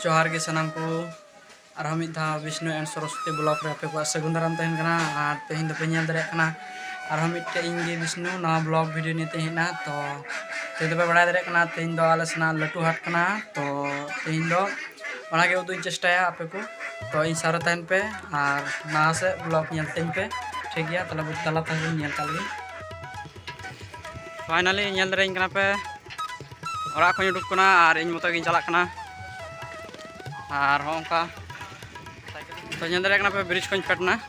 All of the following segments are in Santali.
ᱡᱚᱦᱟᱨ ᱜᱮ ᱥᱟᱱᱟᱢ ᱠᱚ ᱟᱨᱦᱚᱸ ᱢᱤᱫ ᱫᱷᱟᱣ ᱵᱤᱥᱱᱩ ᱮᱱᱰ ᱥᱚᱨᱚᱥᱚᱛᱤ ᱵᱞᱚᱠ ᱨᱮ ᱟᱯᱮ ᱠᱚᱣᱟᱜ ᱥᱟᱹᱜᱩᱱ ᱫᱟᱨᱟᱢ ᱛᱟᱦᱮᱱ ᱠᱟᱱᱟ ᱟᱨ ᱛᱮᱦᱮᱧ ᱫᱚᱯᱮ ᱧᱮᱞ ᱫᱟᱲᱮᱭᱟᱜ ᱠᱟᱱᱟ ᱟᱨᱦᱚᱸ ᱢᱤᱫᱴᱮᱡ ᱤᱧ ᱜᱮ ᱵᱤᱥᱱᱩ ᱱᱚᱣᱟ ᱵᱞᱚᱜ ᱵᱷᱤᱰᱤᱭᱳ ᱱᱤᱭᱮ ᱛᱮ ᱦᱮᱡ ᱮᱱᱟ ᱛᱚ ᱛᱮᱦᱮᱧ ᱫᱚᱯᱮ ᱵᱟᱲᱟᱭ ᱫᱟᱲᱮᱭᱟᱜ ᱠᱟᱱᱟ ᱛᱮᱦᱮᱧ ᱫᱚ ᱟᱞᱮ ᱥᱮᱱᱟᱜ ᱞᱟᱹᱴᱩ ᱦᱟᱴ ᱠᱟᱱᱟ ᱛᱚ ᱛᱮᱦᱮᱧ ᱫᱚ ᱚᱱᱟᱜᱮ ᱩᱫᱩᱜ ᱪᱮᱥᱴᱟᱭᱟ ᱟᱯᱮ ᱠᱚ ᱛᱚ ᱤᱧ ᱥᱟᱨᱮ ᱛᱟᱦᱮᱱ ᱯᱮ ᱟᱨ ᱞᱟᱦᱟ ᱥᱮᱫ ᱵᱞᱚᱜ ᱧᱮᱞ ᱛᱤᱧ ᱯᱮ ᱴᱷᱤᱠ ᱜᱮᱭᱟ ᱛᱟᱦᱞᱮ ᱵᱩᱡᱽ ᱛᱟᱞᱟ ᱛᱟᱦᱮᱱ ᱧᱮᱞ ᱠᱟᱜ ᱞᱮᱜᱮ ᱯᱷᱟᱭᱱᱟᱞᱤ ᱧᱮᱞ ᱫᱟᱲᱮᱭᱟᱹᱧ ᱠᱟᱱᱟ ᱯᱮ ᱚᱲᱟᱜ ᱠᱷᱚᱱ ᱩᱰᱩᱠ ᱠᱟᱱᱟ ᱟᱨ ᱤᱧ ᱢᱚᱛᱚ ᱜᱤᱧ ᱪᱟᱞᱟᱜ ᱠᱟᱱᱟ ᱟᱨ ᱦᱚᱸ ᱚᱱᱠᱟ ᱛᱚ ᱧᱮᱞ ᱫᱟᱲᱮᱭᱟᱜ ᱠᱟᱱᱟ ᱯᱮ ᱵᱨᱤᱡᱽ ᱠᱷᱚᱱ ᱯᱷᱮᱰ ᱮᱱᱟ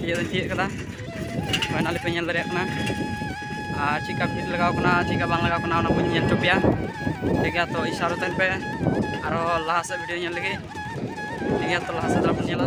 ᱛᱤᱭᱳᱜ ᱫᱚᱧ ᱛᱤᱭᱳᱜ ᱠᱟᱫᱟ ᱦᱳᱭ ᱱᱟᱞᱮ ᱯᱮ ᱧᱮᱞ ᱫᱟᱲᱮᱭᱟᱜ ᱠᱟᱱᱟ ᱟᱨ ᱪᱮᱫᱠᱟ ᱵᱷᱤᱲ ᱞᱟᱜᱟᱣ ᱠᱟᱱᱟ ᱪᱮᱫᱠᱟ ᱵᱟᱝ ᱞᱟᱜᱟᱣ ᱠᱟᱱᱟ ᱚᱱᱟ ᱠᱚᱧ ᱧᱮᱞ ᱦᱚᱪᱚ ᱯᱮᱭᱟ ᱴᱷᱤᱠ ᱜᱮᱭᱟ ᱛᱚ ᱤᱥᱟᱨᱚ ᱛᱟᱦᱮᱱ ᱯᱮ ᱟᱨᱚ ᱞᱟᱦᱟ ᱥᱮᱫ ᱵᱷᱤᱰᱤᱭᱳ ᱧᱮᱞ ᱞᱟᱹᱜᱤᱫ ᱴᱷᱤᱠ ᱜᱮᱭᱟ ᱛᱚ ᱞᱟᱦᱟ ᱥᱮᱫ ᱫᱚ ᱵᱚᱱ ᱧᱮᱞᱟ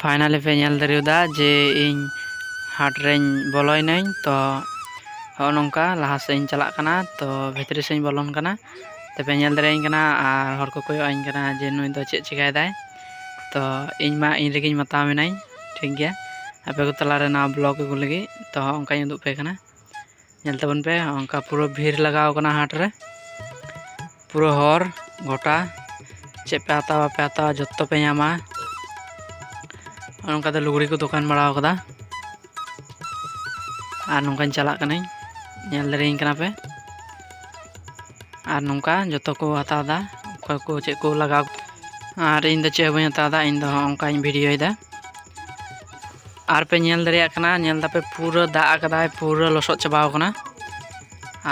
ᱯᱷᱟᱭᱱᱟᱞᱤ ᱯᱮ ᱧᱮᱞ ᱫᱟᱲᱮᱭᱟᱫᱟ ᱡᱮ ᱤᱧ ᱦᱟᱴ ᱨᱮᱧ ᱵᱚᱞᱚᱭᱱᱟᱹᱧ ᱛᱚ ᱦᱚᱸᱜᱼᱚ ᱱᱚᱝᱠᱟ ᱞᱟᱦᱟ ᱥᱮᱫ ᱤᱧ ᱪᱟᱞᱟᱜ ᱠᱟᱱᱟ ᱛᱚ ᱵᱷᱤᱛᱨᱤ ᱥᱮᱫ ᱤᱧ ᱵᱚᱞᱚᱱ ᱠᱟᱱᱟ ᱛᱚᱯᱮ ᱧᱮᱞ ᱫᱟᱲᱮᱭᱟᱹᱧ ᱠᱟᱱᱟ ᱟᱨ ᱦᱚᱲ ᱠᱚ ᱠᱚᱭᱚᱜ ᱟᱹᱧ ᱠᱟᱱᱟ ᱡᱮ ᱱᱩᱭ ᱫᱚ ᱪᱮᱫ ᱪᱤᱠᱟᱹᱭᱮᱫᱟᱭ ᱛᱚ ᱤᱧ ᱢᱟ ᱤᱧ ᱨᱮᱜᱮᱧ ᱢᱟᱛᱟᱣ ᱢᱮᱱᱟᱹᱧ ᱴᱷᱤᱠ ᱜᱮᱭᱟ ᱟᱯᱮ ᱠᱚ ᱛᱟᱞᱟᱨᱮ ᱱᱚᱣᱟ ᱵᱞᱚᱜᱽ ᱟᱹᱜᱩ ᱞᱟᱹᱜᱤᱫ ᱛᱚ ᱚᱱᱠᱟᱧ ᱩᱫᱩᱜ ᱟᱯᱮ ᱠᱟᱱᱟ ᱧᱮᱞ ᱛᱟᱵᱚᱱ ᱯᱮ ᱚᱱᱠᱟ ᱯᱩᱨᱟᱹ ᱵᱷᱤᱲ ᱞᱟᱜᱟᱣ ᱠᱟᱱᱟ ᱦᱟᱴ ᱨᱮ ᱯᱩᱨᱟᱹ ᱦᱚᱨ ᱜᱚᱴᱟ ᱪᱮᱫ ᱯᱮ ᱦᱟᱛᱟᱣᱟ ᱵᱟᱯᱮ ᱦᱟᱛᱟᱣᱟ ᱡᱚᱛᱚ ᱯᱮ ᱧᱟᱢᱟ ᱚᱱᱠᱟ ᱫᱚ ᱞᱩᱜᱽᱲᱤ ᱠᱚ ᱫᱚᱠᱟᱱ ᱵᱟᱲᱟᱣ ᱠᱟᱫᱟ ᱟᱨ ᱱᱚᱝᱠᱟᱧ ᱪᱟᱞᱟᱜ ᱠᱟᱹᱱᱟᱹᱧ ᱧᱮᱞ ᱫᱟᱲᱮᱭᱟᱹᱧ ᱠᱟᱱᱟ ᱯᱮ ᱟᱨ ᱱᱚᱝᱠᱟ ᱡᱚᱛᱚ ᱠᱚ ᱦᱟᱛᱟᱣ ᱮᱫᱟ ᱚᱠᱚᱭ ᱠᱚ ᱪᱮᱫ ᱠᱚ ᱞᱟᱜᱟᱣ ᱟᱨ ᱤᱧ ᱫᱚ ᱪᱮᱫ ᱦᱚᱸ ᱵᱟᱹᱧ ᱦᱟᱛᱟᱣ ᱮᱫᱟ ᱤᱧ ᱫᱚ ᱚᱱᱠᱟᱧ ᱵᱷᱤᱰᱤᱭᱳᱭᱮᱫᱟ ᱟᱨᱯᱮ ᱧᱮᱞ ᱫᱟᱲᱮᱭᱟᱜ ᱠᱟᱱᱟ ᱧᱮᱞ ᱫᱟᱯᱮ ᱯᱩᱨᱟᱹ ᱫᱟᱜ ᱟᱠᱟᱫᱟᱭ ᱯᱩᱨᱟᱹ ᱞᱚᱥᱚᱫ ᱪᱟᱵᱟᱣ ᱠᱟᱱᱟ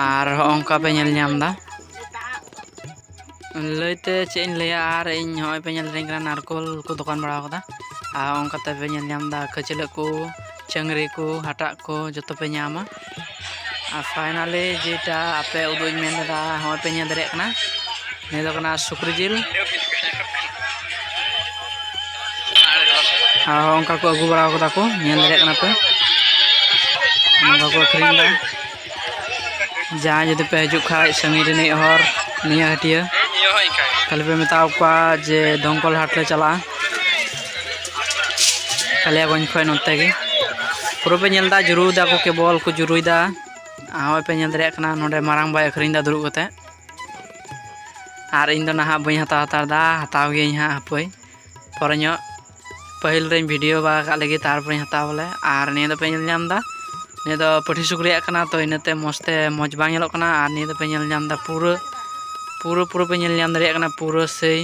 ᱟᱨ ᱦᱚᱸᱜᱼᱚᱝᱠᱟ ᱯᱮ ᱧᱮᱞ ᱧᱟᱢ ᱮᱫᱟ ᱞᱟᱹᱭᱛᱮ ᱪᱮᱫ ᱤᱧ ᱞᱟᱹᱭᱟ ᱟᱨ ᱤᱧ ᱦᱚᱸᱜᱼᱚᱭ ᱯᱮ ᱧᱮᱞ ᱫᱟᱲᱮᱧ ᱠᱟᱱᱟ ᱱᱟᱨᱠᱳᱞ ᱠᱚ ᱫᱚᱠᱟᱱ ᱵᱟᱲᱟᱣ ᱠᱟᱫᱟ ᱟᱨ ᱚᱱᱠᱟᱛᱮ ᱯᱮ ᱧᱮᱞ ᱧᱟᱢ ᱮᱫᱟ ᱠᱷᱟᱹᱪᱞᱟᱹᱜ ᱠᱚ ᱪᱟᱹᱝᱨᱤ ᱠᱚ ᱦᱟᱴᱟᱜ ᱠᱚ ᱡᱚᱛᱚ ᱯᱮ ᱧᱟᱢᱟ ᱟᱨ ᱯᱷᱟᱭᱱᱟᱞᱤ ᱡᱮᱴᱟ ᱟᱯᱮ ᱩᱫᱩᱜ ᱤᱧ ᱢᱮᱱ ᱞᱮᱫᱟ ᱦᱚᱸᱜᱼᱚᱭ ᱯᱮ ᱧᱮᱞ ᱫᱟᱲᱮᱭᱟᱜ ᱠᱟᱱᱟ ᱱᱤᱭᱟᱹ ᱫᱚ ᱠᱟᱱᱟ ᱥᱩᱠᱨᱤ ᱡᱤᱞ ᱟᱨ ᱚᱱᱠᱟ ᱠᱚ ᱟᱹᱜᱩ ᱵᱟᱲᱟ ᱠᱟᱫᱟ ᱠᱚ ᱧᱮᱞ ᱫᱟᱲᱮᱭᱟᱜ ᱠᱟᱱᱟ ᱯᱮ ᱚᱱᱠᱟ ᱠᱚ ᱟᱹᱠᱷᱨᱤᱧ ᱫᱟ ᱡᱟᱦᱟᱸᱭ ᱡᱩᱫᱤ ᱯᱮ ᱦᱤᱡᱩᱜ ᱠᱷᱟᱡ ᱥᱟᱺᱜᱤᱧ ᱨᱤᱱᱤᱡ ᱦᱚᱲ ᱱᱤᱭᱟᱹ ᱦᱟᱹᱴᱤᱭᱟᱹ ᱛᱟᱦᱞᱮ ᱯᱮ ᱢᱮᱛᱟᱣ ᱠᱚᱣᱟ ᱡᱮ ᱫᱚᱢᱠᱚᱞ ᱦᱟᱴ ᱞᱮ ᱪᱟᱞᱟᱜᱼᱟ ᱠᱟᱞᱤᱭᱟᱜᱚᱸᱡᱽ ᱠᱷᱚᱱ ᱱᱚᱛᱮ ᱜᱮ ᱯᱩᱨᱟᱹ ᱯᱮ ᱧᱮᱞ ᱮᱫᱟ ᱡᱩᱨᱩ ᱮᱫᱟ ᱠᱚ ᱠᱮᱵᱚᱞ ᱠᱚ ᱡᱩᱨᱩᱭᱮᱫᱟ ᱦᱚᱸᱜᱼᱚᱭ ᱯᱮ ᱧᱮᱞ ᱫᱟᱲᱮᱭᱟᱜ ᱠᱟᱱᱟ ᱱᱚᱰᱮ ᱢᱟᱨᱟᱝ ᱵᱟᱭ ᱟᱹᱠᱷᱨᱤᱧ ᱮᱫᱟ ᱫᱩᱲᱩᱵ ᱠᱟᱛᱮ ᱟᱨ ᱤᱧ ᱫᱚ ᱱᱟᱦᱟᱜ ᱵᱟᱹᱧ ᱦᱟᱛᱟᱣ ᱦᱟᱛᱟᱲ ᱮᱫᱟ ᱦᱟᱛᱟᱣ ᱜᱤᱭᱟᱹᱧ ᱦᱟᱸᱜ ᱦᱟᱯᱳᱭ ᱯᱚᱨᱮ ᱧᱚᱜ ᱯᱟᱹᱦᱤᱞ ᱨᱮᱧ ᱵᱷᱤᱰᱤᱭᱳ ᱵᱟᱲᱟ ᱠᱟᱜ ᱞᱟᱹᱜᱤᱫ ᱛᱟᱨᱯᱚᱨᱮᱧ ᱦᱟᱛᱟᱣ ᱵᱚᱞᱮ ᱟᱨ ᱱᱤᱭᱟᱹ ᱫᱚᱯᱮ ᱧᱮᱞ ᱧᱟᱢ ᱮᱫᱟ ᱱᱤᱭᱟᱹ ᱫᱚ ᱯᱟᱹᱴᱷᱤ ᱥᱩᱠᱨᱤᱭᱟᱜ ᱠᱟᱱᱟ ᱛᱚ ᱤᱱᱟᱹᱛᱮ ᱢᱚᱡᱽ ᱛᱮ ᱢᱚᱡᱽ ᱵᱟᱝ ᱧᱮᱞᱚᱜ ᱠᱟᱱᱟ ᱟᱨ ᱱᱤᱭᱟᱹ ᱫᱚᱯᱮ ᱧᱮᱞ ᱧᱟᱢ ᱮᱫᱟ ᱯᱩᱨᱟᱹ ᱯᱩᱨᱟᱹ ᱯᱩᱨᱟᱹ ᱯᱮ ᱧᱮᱞ ᱧᱟᱢ ᱫᱟᱲᱮᱭᱟᱜ ᱠᱟᱱᱟ ᱯᱩᱨᱟᱹ ᱥᱮᱭ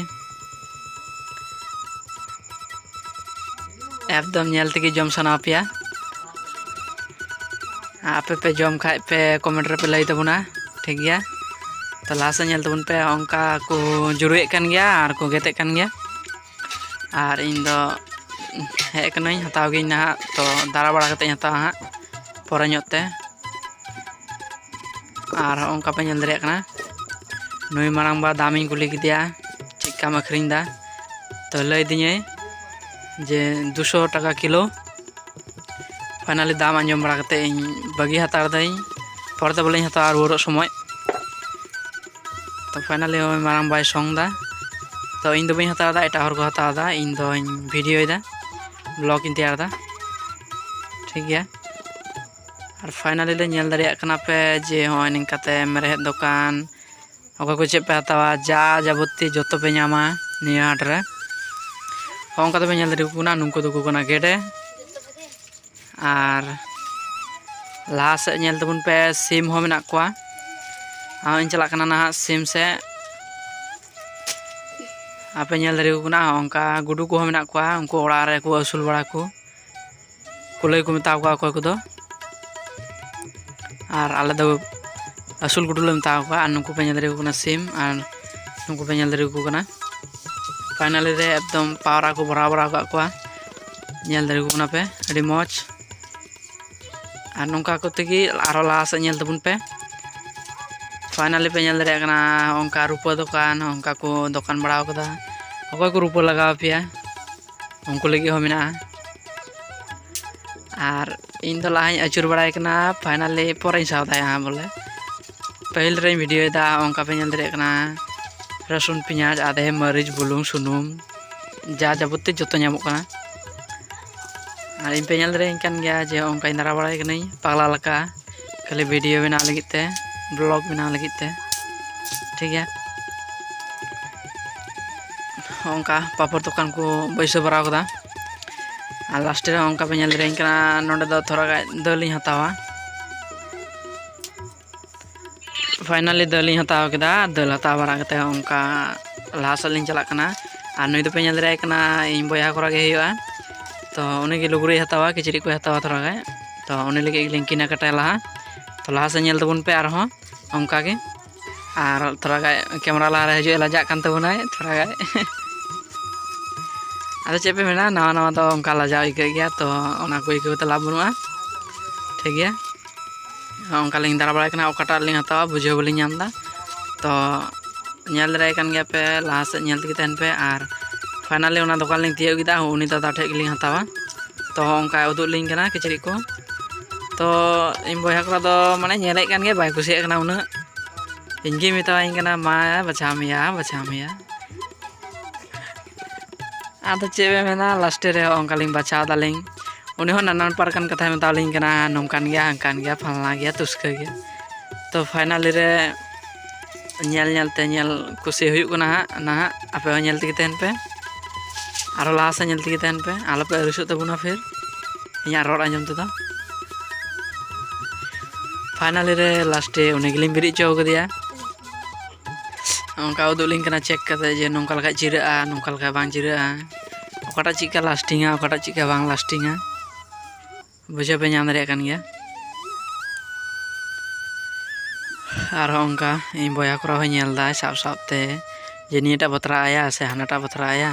ᱮᱠᱫᱚᱢ ᱧᱮᱞ ᱛᱮᱜᱮ ᱡᱚᱢ ᱥᱟᱱᱟ ᱯᱮᱭᱟ ᱟᱯᱮ ᱯᱮ ᱡᱚᱢ ᱠᱷᱟᱡ ᱯᱮ ᱠᱚᱢᱮᱱᱴ ᱨᱮᱯᱮ ᱞᱟᱹᱭ ᱛᱟᱵᱚᱱᱟ ᱴᱷᱤᱠ ᱜᱮᱭᱟ ᱛᱚ ᱞᱟᱦᱟ ᱥᱮᱫ ᱧᱮᱞ ᱛᱟᱵᱚᱱ ᱯᱮ ᱚᱱᱠᱟ ᱠᱚ ᱡᱩᱨᱩᱭᱮᱫ ᱠᱟᱱ ᱜᱮᱭᱟ ᱟᱨ ᱠᱚ ᱜᱮᱛᱮᱜ ᱠᱟᱱ ᱜᱮᱭᱟ ᱟᱨ ᱤᱧ ᱫᱚ ᱦᱮᱡ ᱠᱟᱹᱱᱟᱹᱧ ᱦᱟᱛᱟᱣ ᱜᱤᱭᱟᱹᱧ ᱱᱟᱦᱟᱜ ᱛᱚ ᱫᱟᱬᱟ ᱵᱟᱲᱟ ᱠᱟᱛᱮᱫ ᱤᱧ ᱦᱟᱛᱟᱣᱟ ᱦᱟᱸᱜ ᱯᱚᱨᱮ ᱧᱚᱜ ᱛᱮ ᱟᱨ ᱦᱚᱸᱜᱼᱚᱝᱠᱟ ᱯᱮ ᱧᱮᱞ ᱫᱟᱲᱮᱭᱟᱜ ᱠᱟᱱᱟ ᱱᱩᱭ ᱢᱟᱲᱟᱝ ᱵᱟ ᱫᱟᱢᱤᱧ ᱠᱩᱞᱤ ᱠᱮᱫᱮᱭᱟ ᱪᱮᱫ ᱠᱟᱢ ᱟᱹᱠᱷᱨᱤᱧ ᱮᱫᱟ ᱛᱚ ᱞᱟᱹᱭ ᱫᱤᱧᱟᱹᱭ ᱡᱮ ᱫᱩᱥᱚ ᱴᱟᱠᱟ ᱠᱤᱞᱳ ᱯᱷᱟᱭᱱᱟᱞᱤ ᱫᱟᱢ ᱟᱸᱡᱚᱢ ᱵᱟᱲᱟ ᱠᱟᱛᱮᱫ ᱤᱧ ᱵᱟᱹᱜᱤ ᱦᱟᱛᱟᱲ ᱫᱟᱹᱧ ᱯᱚᱨᱮ ᱫᱚ ᱵᱚᱞᱮᱧ ᱦᱟᱛᱟᱣᱟ ᱨᱩᱣᱟᱹᱲᱚᱜ ᱥᱚᱢᱚᱭ ᱛᱚ ᱯᱷᱟᱭᱱᱟᱞᱤ ᱱᱚᱜᱼᱚᱭ ᱢᱟᱨᱟᱝ ᱵᱟᱭ ᱥᱚᱝ ᱮᱫᱟ ᱛᱚ ᱤᱧ ᱫᱚ ᱵᱟᱹᱧ ᱦᱟᱛᱟᱣ ᱮᱫᱟ ᱮᱴᱟᱜ ᱦᱚᱲ ᱠᱚ ᱦᱟᱛᱟᱣ ᱮᱫᱟ ᱤᱧ ᱫᱚᱧ ᱵᱷᱤᱰᱤᱭᱳᱭᱮᱫᱟ ᱵᱞᱚᱜ ᱤᱧ ᱛᱮᱭᱟᱨ ᱮᱫᱟ ᱴᱷᱤᱠ ᱜᱮᱭᱟ ᱟᱨ ᱯᱷᱟᱭᱱᱟᱞᱤ ᱞᱮ ᱧᱮᱞ ᱫᱟᱲᱮᱭᱟᱜ ᱠᱟᱱᱟ ᱯᱮ ᱡᱮ ᱦᱚᱸᱜᱼᱚᱭ ᱱᱤᱝᱠᱟᱛᱮ ᱢᱮᱨᱦᱮᱫ ᱫᱚᱠᱟᱱ ᱚᱠᱚᱭ ᱠᱚ ᱪᱮᱫ ᱯᱮ ᱦᱟᱛᱟᱣᱟ ᱡᱟ ᱡᱟᱵᱚᱛᱤ ᱡᱚᱛᱚ ᱯᱮ ᱧᱟᱢᱟ ᱱᱤᱭᱟᱹ ᱦᱟᱴ ᱨᱮ ᱦᱚᱸᱜᱼᱚ ᱱᱚᱝᱠᱟ ᱛᱮᱯᱮ ᱧᱮᱞ ᱫᱟᱲᱮᱭᱟᱠᱚ ᱠᱟᱱᱟ ᱱᱩᱠᱩ ᱫᱚᱠᱚ ᱠᱟᱱᱟ ᱜᱮᱰᱮ ᱟᱨ ᱞᱟᱦᱟ ᱥᱮᱫ ᱧᱮᱞ ᱛᱟᱵᱚᱱ ᱯᱮ ᱥᱤᱢ ᱦᱚᱸ ᱢᱮᱱᱟᱜ ᱠᱚᱣᱟ ᱟᱨᱦᱚᱸᱧ ᱪᱟᱞᱟᱜ ᱠᱟᱱᱟ ᱱᱟᱦᱟᱜ ᱥᱤᱢ ᱥᱮᱫ ᱟᱯᱮ ᱧᱮᱞ ᱫᱟᱲᱮᱭᱟᱠᱚ ᱠᱟᱱᱟ ᱚᱱᱠᱟ ᱜᱩᱰᱩ ᱠᱚᱦᱚᱸ ᱢᱮᱱᱟᱜ ᱠᱚᱣᱟ ᱩᱱᱠᱩ ᱚᱲᱟᱜ ᱨᱮᱠᱚ ᱟᱹᱥᱩᱞ ᱵᱟᱲᱟ ᱠᱚ ᱠᱩᱞᱟᱹᱭ ᱠᱚ ᱢᱮᱛᱟ ᱠᱚᱣᱟ ᱚᱠᱚᱭ ᱠᱚᱫᱚ ᱟᱨ ᱟᱞᱮ ᱫᱚ ᱟᱹᱥᱩᱞ ᱜᱩᱰᱩ ᱞᱮ ᱢᱮᱛᱟ ᱠᱚᱣᱟ ᱟᱨ ᱱᱩᱠᱩ ᱯᱮ ᱧᱮᱞ ᱫᱟᱲᱮᱭᱟᱠᱚ ᱠᱟᱱᱟ ᱥᱤᱢ ᱟᱨ ᱱᱩᱠᱩ ᱯᱮ ᱧᱮᱞ ᱫᱟᱲᱮᱭᱟᱠᱚ ᱠᱟᱱᱟ ᱯᱷᱟᱭᱱᱟᱞᱤ ᱨᱮ ᱮᱠᱫᱚᱢ ᱯᱟᱣᱨᱟ ᱠᱚ ᱵᱷᱚᱨᱟᱣ ᱵᱟᱲᱟ ᱟᱠᱟᱫ ᱠᱚᱣᱟ ᱧᱮᱞ ᱫᱟᱲᱮ ᱠᱟᱱᱟ ᱯᱮ ᱟᱹᱰᱤ ᱢᱚᱡᱽ ᱟᱨ ᱱᱚᱝᱠᱟ ᱠᱚᱛᱮ ᱜᱮ ᱟᱨᱦᱚᱸ ᱞᱟᱦᱟ ᱥᱮᱫ ᱧᱮᱞ ᱛᱟᱵᱚᱱ ᱯᱮ ᱯᱷᱟᱭᱱᱟᱞᱤ ᱯᱮ ᱧᱮᱞ ᱫᱟᱲᱮᱭᱟᱜ ᱠᱟᱱᱟ ᱚᱱᱠᱟ ᱨᱩᱯᱟᱹ ᱫᱚᱠᱟᱱ ᱚᱱᱠᱟ ᱠᱚ ᱫᱚᱠᱟᱱ ᱵᱟᱲᱟ ᱟᱠᱟᱫᱟ ᱚᱠᱚᱭ ᱠᱚ ᱨᱩᱯᱟᱹ ᱞᱟᱜᱟᱣ ᱯᱮᱭᱟ ᱩᱱᱠᱩ ᱞᱟᱹᱜᱤᱫ ᱦᱚᱸ ᱢᱮᱱᱟᱜᱼᱟ ᱟᱨ ᱤᱧ ᱫᱚ ᱞᱟᱦᱟᱧ ᱟᱹᱪᱩᱨ ᱵᱟᱲᱟᱭ ᱠᱟᱱᱟ ᱯᱷᱟᱭᱱᱟᱞᱤ ᱯᱚᱨᱮᱧ ᱥᱟᱵ ᱫᱟᱭᱟ ᱵᱚᱞᱮ ᱯᱟᱹᱦᱤᱞ ᱨᱮᱧ ᱵᱷᱤᱰᱤᱭᱳᱭᱮᱫᱟ ᱚᱱᱠᱟ ᱯᱮ ᱧᱮᱞ ᱫᱟᱲᱮᱭᱟᱜ ᱠᱟᱱᱟ ᱨᱟᱹᱥᱩᱱ ᱯᱮᱸᱭᱟᱡᱽ ᱟᱫᱷᱮ ᱢᱟᱹᱨᱤᱪ ᱵᱩᱞᱩᱝ ᱥᱩᱱᱩᱢ ᱡᱟ ᱡᱟᱵᱚᱛᱤ ᱡᱚᱛᱚ ᱧᱟᱢᱚᱜ ᱠᱟᱱᱟ ᱟᱨ ᱤᱧ ᱯᱮ ᱧᱮᱞ ᱫᱟᱲᱮᱭᱟᱹᱧ ᱠᱟᱱ ᱜᱮᱭᱟ ᱡᱮ ᱚᱱᱠᱟᱧ ᱫᱟᱬᱟ ᱵᱟᱲᱟᱭ ᱠᱟᱹᱱᱟᱹᱧ ᱯᱟᱜᱽᱞᱟ ᱞᱮᱠᱟ ᱠᱷᱟᱹᱞᱤ ᱵᱷᱤᱰᱤᱭᱳ ᱵᱮᱱᱟᱣ ᱞᱟᱹᱜᱤᱫ ᱛᱮ ᱵᱞᱚᱜ ᱵᱮᱱᱟᱣ ᱞᱟᱹᱜᱤᱫ ᱛᱮ ᱴᱷᱤᱠ ᱜᱮᱭᱟ ᱚᱱᱠᱟ ᱯᱟᱯᱚᱲ ᱫᱚᱠᱟᱱ ᱠᱚ ᱵᱟᱹᱭᱥᱟᱹᱣ ᱵᱟᱲᱟᱣ ᱠᱟᱫᱟ ᱟᱨ ᱞᱟᱥᱴᱮ ᱨᱮ ᱚᱱᱠᱟ ᱯᱮ ᱧᱮᱞ ᱫᱟᱲᱮᱭᱟᱹᱧ ᱠᱟᱱᱟ ᱱᱚᱸᱰᱮ ᱫᱚ ᱛᱷᱚᱲᱟ ᱜᱟᱱ ᱫᱟᱹᱞ ᱤᱧ ᱦᱟᱛᱟᱣᱟ ᱯᱷᱟᱭᱱᱟᱞᱤ ᱫᱟᱹᱞ ᱤᱧ ᱦᱟᱛᱟᱣ ᱠᱮᱫᱟ ᱫᱟᱹᱞ ᱦᱟᱛᱟᱣ ᱵᱟᱲᱟ ᱠᱟᱛᱮᱫ ᱦᱚᱸ ᱚᱱᱠᱟ ᱞᱟᱦᱟ ᱥᱮᱫ ᱞᱤᱧ ᱪᱟᱞᱟᱜ ᱠᱟᱱᱟ ᱟᱨ ᱱᱩᱭ ᱫᱚᱯᱮ ᱧᱮᱞ ᱫᱟᱲᱮᱭᱟᱭ ᱠᱟᱱᱟ ᱤᱧ ᱵᱚᱭᱦᱟ ᱠᱚᱨᱟ ᱜᱮ ᱦᱩᱭᱩᱜᱼᱟ ᱛᱚ ᱩᱱᱤ ᱜᱮ ᱞᱩᱜᱽᱲᱤᱡ ᱦᱟᱛᱟᱣᱟ ᱠᱤᱪᱨᱤᱡ ᱠᱚᱭ ᱦᱟᱛᱟᱣᱟ ᱛᱷᱚᱲᱟ ᱜᱟᱱ ᱛᱚ ᱩᱱᱤ ᱞᱟᱹᱜᱤᱫ ᱜᱮᱞᱤᱧ ᱠᱤᱱᱟ ᱠᱟᱴᱟᱭᱟ ᱞᱟᱦᱟ ᱛᱚ ᱞᱟᱦᱟ ᱥᱮᱫ ᱧᱮᱞ ᱛᱟᱵᱚᱱ ᱯᱮ ᱟᱨᱦᱚᱸ ᱚᱱᱠᱟ ᱜᱮ ᱟᱨ ᱛᱷᱚᱲᱟ ᱜᱟᱱ ᱠᱮᱢᱮᱨᱟ ᱞᱟᱦᱟ ᱨᱮ ᱦᱤᱡᱩᱜ ᱮ ᱞᱟᱡᱟᱜ ᱠᱟᱱ ᱛᱟᱵᱚᱱᱟᱭ ᱛᱷᱚᱲᱟ ᱜᱟᱱ ᱟᱫᱚ ᱪᱮᱫ ᱯᱮ ᱢᱮᱱᱟ ᱱᱟᱣᱟ ᱱᱟᱣᱟ ᱫᱚ ᱚᱱᱠᱟ ᱞᱟᱡᱟᱣ ᱟᱹᱭᱠᱟᱹᱜ ᱜᱮᱭᱟ ᱛᱚ ᱚᱱᱟ ᱠᱚ ᱟᱹᱭᱠᱟᱹᱣ ᱠᱟᱛᱮᱫ ᱞᱟᱵᱷ ᱵᱟᱹᱱᱩᱜᱼᱟ ᱴᱷᱤᱠ ᱜᱮᱭᱟ ᱚᱱᱠᱟ ᱞᱤᱧ ᱫᱟᱬᱟ ᱵᱟᱲᱟᱭ ᱠᱟᱱᱟ ᱚᱠᱟᱴᱟᱜ ᱞᱤᱧ ᱦᱟᱛᱟᱣᱟ ᱵᱩᱡᱷᱟᱹᱣ ᱵᱟᱹᱞᱤᱧ ᱧᱟᱢ ᱮᱫᱟ ᱛᱚ ᱧᱮᱞ ᱫᱟᱲᱮᱭᱟᱭ ᱠᱟᱱ ᱜᱮᱭᱟ ᱯᱮ ᱞᱟᱦᱟ ᱥᱮᱫ ᱧᱮᱞ ᱛᱮᱜᱮ ᱛᱟᱦᱮᱱ ᱯᱮ ᱟᱨ ᱯᱷᱟᱭᱱᱟᱞᱤ ᱚᱱᱟ ᱫᱚᱠᱟᱱ ᱞᱤᱧ ᱛᱤᱭᱳᱜ ᱠᱮᱫᱟ ᱩᱱᱤ ᱫᱟᱫᱟ ᱴᱷᱮᱡ ᱜᱮᱞᱤᱧ ᱦᱟᱛᱟᱣᱟ ᱛᱚ ᱚᱱᱠᱟᱭ ᱩᱫᱩᱜ ᱞᱤᱧ ᱠᱟᱱᱟ ᱠᱤᱪᱨᱤᱡ ᱠᱚ ᱛᱚ ᱤᱧ ᱵᱚᱭᱦᱟ ᱠᱚᱲᱟ ᱫᱚ ᱢᱟᱱᱮ ᱧᱮᱞᱮᱫ ᱠᱟᱱ ᱜᱮᱭᱟ ᱵᱟᱭ ᱠᱩᱥᱤᱭᱟᱜ ᱠᱟᱱᱟ ᱩᱱᱟᱹᱜ ᱤᱧᱜᱮ ᱢᱮᱛᱟᱣᱟᱹᱧ ᱠᱟᱱᱟ ᱢᱟ ᱵᱟᱪᱷᱟᱣ ᱢᱮᱭᱟ ᱵᱟᱪᱷᱟᱣ ᱢᱮᱭᱟ ᱟᱫᱚ ᱪᱮᱫ ᱵᱮᱱ ᱢᱮᱱᱟ ᱞᱟᱥᱴᱮ ᱨᱮ ᱚᱱᱠᱟᱞᱤᱧ ᱵᱟᱪᱷᱟᱣ ᱫᱟᱞᱤᱧ ᱩᱱᱤ ᱦᱚᱸ ᱱᱟᱱᱟ ᱱᱟᱯᱟᱨ ᱠᱟᱱ ᱠᱟᱛᱷᱟᱭ ᱢᱮᱛᱟᱣᱞᱤᱧ ᱠᱟᱱᱟ ᱱᱚᱝᱠᱟᱱ ᱜᱮᱭᱟ ᱦᱟᱝᱠᱟᱱ ᱜᱮᱭᱟ ᱯᱷᱟᱞᱱᱟ ᱜᱮᱭᱟ ᱛᱩᱥᱠᱟᱹ ᱜᱮᱭᱟ ᱛᱚ ᱯᱷᱟᱭᱱᱟᱞᱤ ᱨᱮ ᱧᱮᱞ ᱧᱮᱞ ᱛᱮ ᱧᱮᱞ ᱠᱩᱥᱤ ᱦᱩᱭᱩᱜ ᱠᱟᱱᱟ ᱦᱟᱸᱜ ᱱᱟᱦᱟᱜ ᱟᱯᱮ ᱦᱚᱸ ᱧᱮᱞ ᱛᱮᱜᱮ ᱛᱟᱦᱮᱱ ᱯᱮ ᱟᱨᱚ ᱞᱟᱦᱟ ᱥᱮᱫ ᱧᱮᱞ ᱛᱮᱜᱮ ᱛᱟᱦᱮᱱ ᱯᱮ ᱟᱞᱚᱯᱮ ᱟᱹᱲᱤᱥᱚᱜ ᱛᱟᱵᱚᱱᱟ ᱯᱷᱤᱨ ᱤᱧᱟᱹᱜ ᱨᱚᱲ ᱟᱸᱡᱚᱢ ᱛᱮᱫᱚ ᱯᱷᱟᱭᱱᱟᱞᱤ ᱨᱮ ᱞᱟᱥᱴᱮ ᱩᱱᱤ ᱜᱮᱞᱤᱧ ᱵᱮᱨᱮᱫ ᱦᱚᱪᱚ ᱠᱟᱫᱮᱭᱟ ᱚᱱᱠᱟ ᱩᱫᱩᱜ ᱞᱤᱧ ᱠᱟᱱᱟ ᱪᱮᱠ ᱠᱟᱛᱮ ᱡᱮ ᱱᱚᱝᱠᱟ ᱞᱮᱠᱷᱟᱡ ᱪᱤᱨᱟᱹᱜᱼᱟ ᱱᱚᱝᱠᱟ ᱞᱮᱠᱷᱟᱡ ᱵᱟᱝ ᱪᱤᱨᱟᱹᱜᱼᱟ ᱚᱠᱟᱴᱟᱜ ᱪᱮᱫᱠᱟ ᱞᱟᱥᱴᱤᱝᱟ ᱚᱠᱟᱴᱟᱜ ᱪᱮᱫᱠᱟ ᱵᱟᱝ ᱞᱟᱥᱴᱤᱝᱟ ᱵᱩᱡᱷᱟᱹᱣ ᱯᱮ ᱧᱟᱢ ᱫᱟᱲᱮᱭᱟᱜ ᱠᱟᱱ ᱜᱮᱭᱟ ᱟᱨᱦᱚᱸ ᱚᱱᱠᱟ ᱤᱧ ᱵᱚᱭᱦᱟ ᱠᱚᱨᱟ ᱦᱚᱸ ᱧᱮᱞ ᱫᱟᱭ ᱥᱟᱵ ᱥᱟᱵ ᱛᱮ ᱡᱮ ᱱᱤᱭᱟᱹᱴᱟᱜ ᱵᱟᱛᱨᱟᱣ ᱟᱭᱟ ᱥᱮ ᱦᱟᱱᱟᱴᱟᱜ ᱵᱟᱛᱨᱟᱣ ᱟᱭᱟ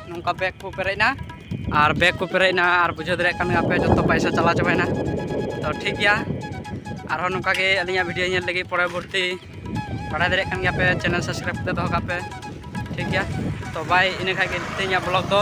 ᱱᱚᱝᱠᱟ ᱵᱮᱜᱽ ᱠᱚ ᱯᱮᱨᱮᱡ ᱮᱱᱟ ᱟᱨ ᱵᱮᱜᱽ ᱠᱚ ᱯᱮᱨᱮᱡ ᱮᱱᱟ ᱟᱨ ᱵᱩᱡᱷᱟᱹᱣ ᱫᱟᱲᱮᱭᱟᱜ ᱠᱟᱱ ᱜᱮᱭᱟᱯᱮ ᱡᱚᱛᱚ ᱯᱚᱭᱥᱟ ᱪᱟᱞᱟᱣ ᱪᱟᱵᱟᱭᱮᱱᱟ ᱛᱚ ᱴᱷᱤᱠ ᱜᱮᱭᱟ ᱟᱨᱦᱚᱸ ᱱᱚᱝᱠᱟ ᱜᱮ ᱟᱹᱞᱤᱧᱟᱜ ᱵᱷᱤᱰᱤᱭᱳ ᱧᱮᱞ ᱞᱟᱹᱜᱤᱫ ᱯᱚᱨᱚᱵᱚᱨᱛᱤ ᱵᱟᱲᱟᱭ ᱫᱟᱲᱮᱭᱟᱜ ᱠᱟᱱ ᱜᱮᱭᱟᱯᱮ ᱪᱮᱱᱮᱞ ᱥᱟᱵᱥᱠᱨᱟᱭᱤᱵ ᱠᱟᱛᱮ ᱫᱚᱦᱚ ᱠᱟᱜ ᱯᱮ ᱴᱷᱤᱠ ᱜᱮᱭᱟ ᱛᱚ ᱵᱟᱭ ᱤᱱᱟᱹ ᱠᱷᱟᱡ ᱜᱮ ᱛᱮᱦᱮᱧᱟᱜ ᱵᱞᱚᱜ ᱫᱚ